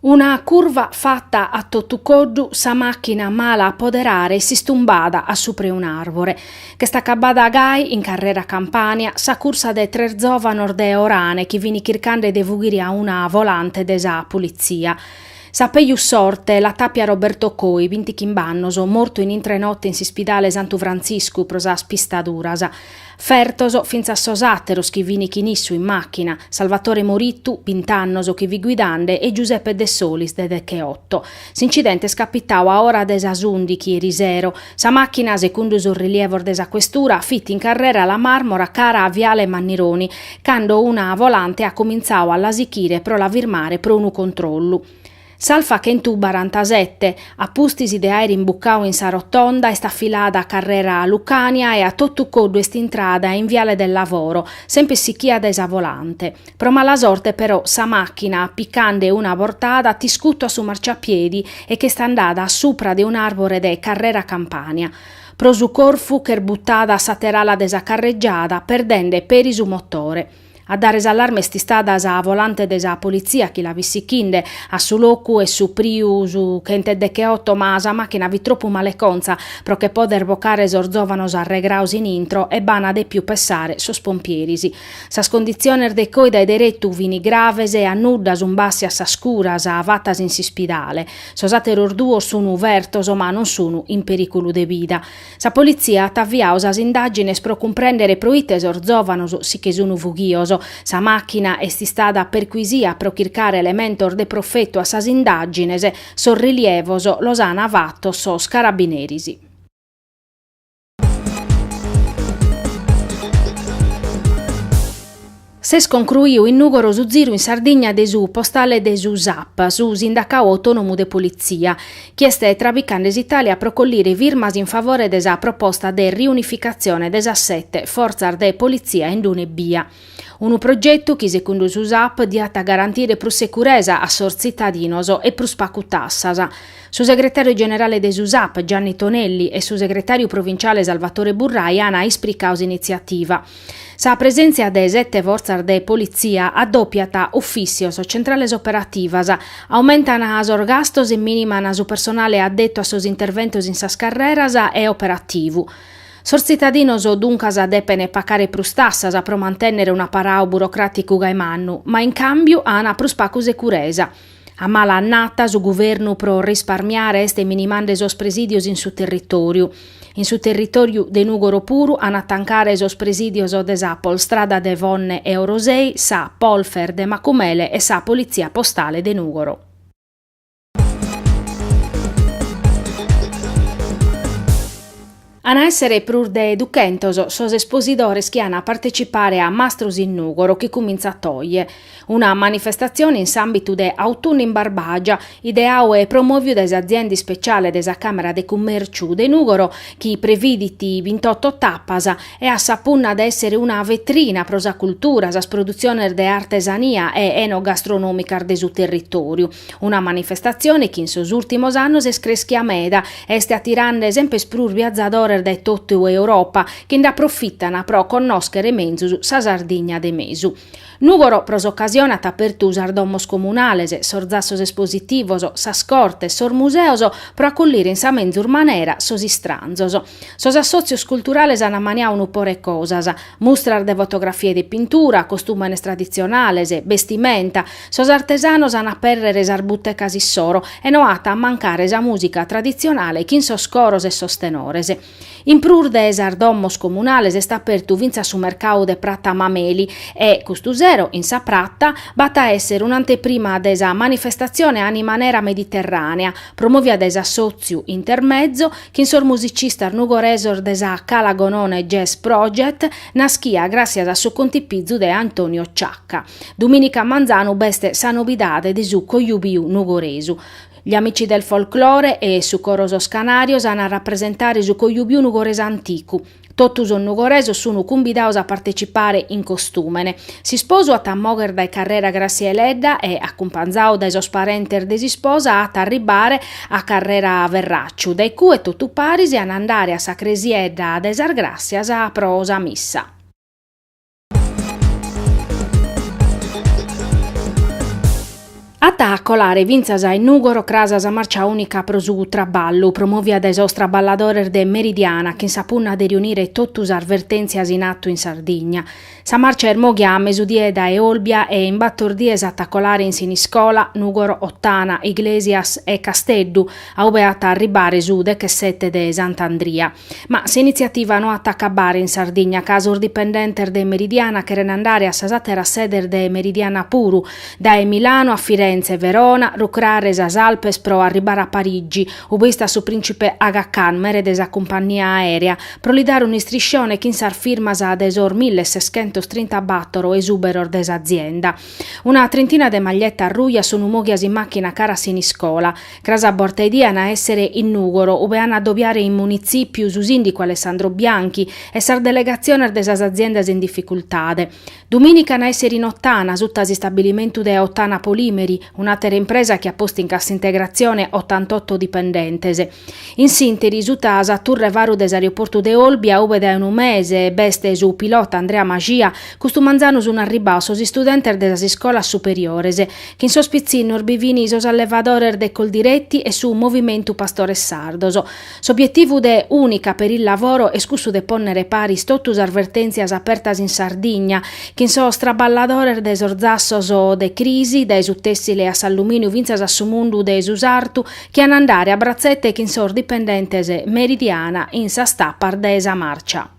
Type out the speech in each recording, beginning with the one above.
Una curva fata a totu coddu sa machina mala a poderare s'istumbada a supre un arbore. Ch'est acabada gai in carrera Campania sa cursa de tres zovanos de Orane chi fini chircande de fughiri a una volante de sa Pulizia. Sa peju sorte l'at apia Roberto Coi, bintichimbe annos, mortu in intre notte in s'ispidale Santu Frantziscu pro sas pistaduras. Fertos fintzas sos àteros chi fini chin issu in màchina, Salvatore Morittu, bint'annos, chi fit guidande, e Giuseppe Dessolis, de decheotto. S'incidente est capitau a ora de sas ùndichi 'eri sero. Sa màchina, secundu sos rilievos de sa questura, fit in carrera La Marmora cara a Viale Mannironi, cando una volante at comintzau a la sichire pro la firmare pro unu controllu. S'Alfa chentubarantasette, a pustis de àere imbucau in sa Rotonda, est afilada a carrera Lucània e a totu coddu est intrada in Viale del Lavoro, semper sichia dae sa volante. Pro mala sorte però sa màchina, picande una bortada, at iscutu a su marciapiedi e ch'est andada a supra de un'àrbore de carrera Campania. Pro su corfu ch'est butada a s'àtera ala de sa carregiada, perdende peri su motore. A dare s'allarme est istada sa volante de sa politzia chi la fit sichinde a su locu est supriu su chent'e decheoto ma sa màchina fit tropu male conza pro che poder bocare sos zòvanos arregraos in intro e b'an depiu pessare sos pompieris. Sas conditziones de Coi dae deretu fin graves e a nudda sun bàssias sas curas fatas in s'ispidale. Sos àteros duos sun fertos ma non sun in perìculu de bida. Sa politzia at aviau sas indàgines pro cumprèndere pro ite sos zòvanos si che sun fughios. Sa màchina est istada percuisia pro chircare elementos de profetu a sas indàgines. Sos rilievos los an fatos sos carabineris. S'est concruiu in Nùgoro su ziru in Sardigna de su postale de su Sap, su sindacau autònomu de politzia, chi est trabicande s'Itàlia pro collire firmas in favore de sa proposta de riunificatzione de sas sete fortzas de politzia in d'una ebbia. Unu progetu chi secundu su Sap diat garantire prus securesa a sos tzitadinos e prus pacu tassas. Su segretàriu generale de su Sap, Gianni Tonelli, e su segretàriu provinciale Salvatore Burrai ana ispricau s'initziativa. Sa presèntzia de sete fortzas de politzia addòpiat ufìssios, centrales operativas, aumentan sos gastos e mìniman su personale addetu a sos interventos in sas carreras e operativu. Sos tzitadinos duncas depen pacare prus tassas pro mantènnere un aparau burocràticu gai mannu, ma in càmbiu an prus pacu securesa. A mala annata su guvernu pro risparmiare est minimande sos presìdios in su territòriu. In su territòriu de Nùgoro puru an a tancare sos presìdios de sa Polstrada de Vonne e Orosei, sa Polfer de Macumele e sa Politzia Postale de Nùgoro. An a èssere prus de duchentos sos esposidores chi an a partecipare a Mastros in Nùgoro chi cumintzat a oje. Una manifestatzione in s'àmbitu de Autunnu in Barbàgia, ideau e promòviu dae s'azienda ispeciale de sa Càmera de Cummèrciu de Nùgoro chi previdit bintotto tapas e at sa punna de èssere una vetrina pro sa cultura, sas produtziones de artesania e enogastronòmicas de su territòriu. Una manifestatzione chi in sos ùrtimos annos est creschia meda, est atirande semper prus viazadores dae totu Europa, chi nd'aprofitana pro connòschere menzus sa Sardigna de mesu. Nùgoro pro s'ocasione at apertu sas domos comunales, sos zassos espositivos, sas cortes, sos museos pro acollire in sa menzus manera sos istranzos. Sos assòtzios culturales an ammaniau unu pore cosas. Mustras de fotografia e de pintura, costùmenes traditzionales, bestimenta, sos artesanos an a apèrrere sas butecas issoro e no at a mancare sa mùsica traditzionale chin sos coros e sos tenores. In prus de sas domos comunales est apertu fintzas su mercau de Pratta Mameli e, custu sero, in sa Pratta, b'at a èssere un'anteprima de sa manifestatzione Animanera Mediterrànea, promòvia dae s'assòtziu Intermezzo, chin sos musicistas nugoresos de sa Cala Gonone Jazz Project, naschia gràssias a su contipizu de Antonio Ciacca. Dumìnica manzanu b'est sa nobidade de su Cojubiu Nugoresu. Gli Amici del Folklore e su Coro Sos Canarios an a rapresentare su cojubiu nugoresu anticu. Totu sos nugoresos sunu cumbidaos a partecipare in costùmene. S'isposu at a mogher dae Carrera Gràssia Deledda e, acumpanzau dae sos parentes de s'isposa, at a arribare a Carrera Ferracciu, dae cue totu paris an a andare a sa cresiedda de sas Gràssias pro sa missa. At a colare fintzas a in Nùgoro cras sa marcia ùnica pro su traballu, promòvia dae sos traballadores de Meridiana chin sa punna de riunire totu sas vertèntzias in atu in Sardigna. Sa marcia est mòghia a mesudie dae Olbia e in bator dies at a colare in Siniscola, Nùgoro, Ottana, Iglesias e Casteddu, a ue at a arribare su dechesete de Sant'Andria. Ma s'initziativa no at a acabare in Sardigna, ca sos dipendentes de Meridiana cheren andare a sas àteras sedes de Meridiana puru, dae Milanu a Firentze, Verona, rucrare sas Alpes pro arribare a Parigi, ube istat su prìntzipe Aga Khan, mere de sa cumpannia aèrea, pro li dare un'istriscione chin sas firmas de sos milli seschentos trintabattoro esùberos de s'azienda. Una trintina de maglietas rujas sun mòghias in màchina cara a Siniscola. Cras a borta 'e die an a èssere in Nùgoro, ube an a dobiare in Munitzìpiu su sìndicu Alessandro Bianchi e sas delegatziones de sas aziendas in dificultade. Dumìnica an a èssere in Ottana, suta a s'istabilimentu de Ottana Polimeri, un'àtera impresa chi at postu in cassintegratzione otantotto dipendentes. In s'ìnteri, suta a sa turre faru de s'aeroportu de Olbia, ube dae unu mese b'est su pilota Andrea Mascia, custu manzanu sunt arribados sos istudentes de sas iscolas superiores. chin sos pitzinnos bi fin sos allevadores de Coldiretti e su Movimentu Pastores Sardos. S'obietivu de Unica per il Lavoro est cussu de pònnere paris totu sas vertèntzias apertas in Sardigna, chin sos traballadores de sos zassos de crisi, dae su tèssile a s'allumìniu fintzas a su mundu de su sartu, chi an a andare a bratzete chin sos dipendentes Meridiana in sas tapas de sa màrcia.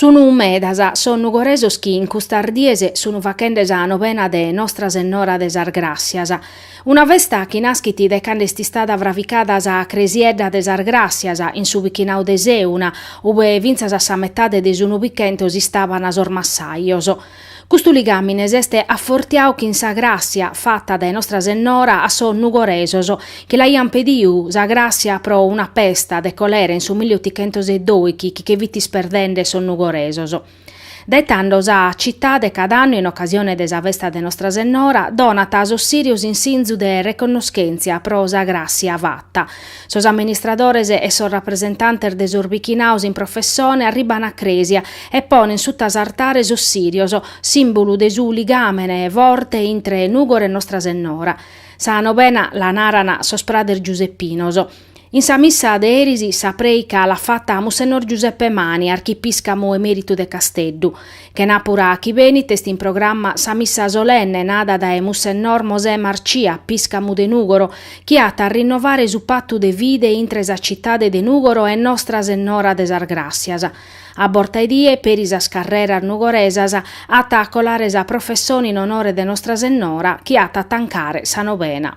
Sunu medas sos nugoresos chi in custas dies sunu fachende sa Novena de Nostra Sennora de sas Gràssias. Una festa chi naschit de cando est istada fravicada sa cresiedda de sas Gràssias in su bichinadu de Seuna, ube fintzas a sa metade de su Nubichentu istaban sos massajos. Custu ligàmine est afortiadu chin sa gràssia fata dae Nostra Sennora a sos nugoresos chi l'aiant pedidu sa gràssia pro una pesta de colera in su milli otichentos e doighi chi che fit isperdende sos nugoresos. Dae tando sa citade cada annu in ocasione de sa festa de Nostra Sennora donat sos sirios in sinzu de reconnoschèntzia pro sa gràssia fata Sos amministradores e sos rapresentantes de sos bichinaos in professone arriban a crèsia e ponen sutta s'artare sos sirios, sìmbulu de su ligàmene forte intre Nùgoro e Nostra Sennora. Sa nobena la naran sos prades giuseppinos. In sa missa de eris sa prèica l'at fata Mussennor Giuseppe Mani, archipiscamu emèritu de Casteddu. Chenàpura chi benit est in programma sa missa solenne nada dae Mussennor Mosè Marcia, piscamu de Nùgoro, chi at a rinnovare su patu de fide intre sa citade de Nùgoro e Nostra Sennora de sas Gràssias. A borta 'e die, peri sas carreras nugoresas, at a colare sa professone in onore de Nostra Sennora, chi at a tancare sa novena.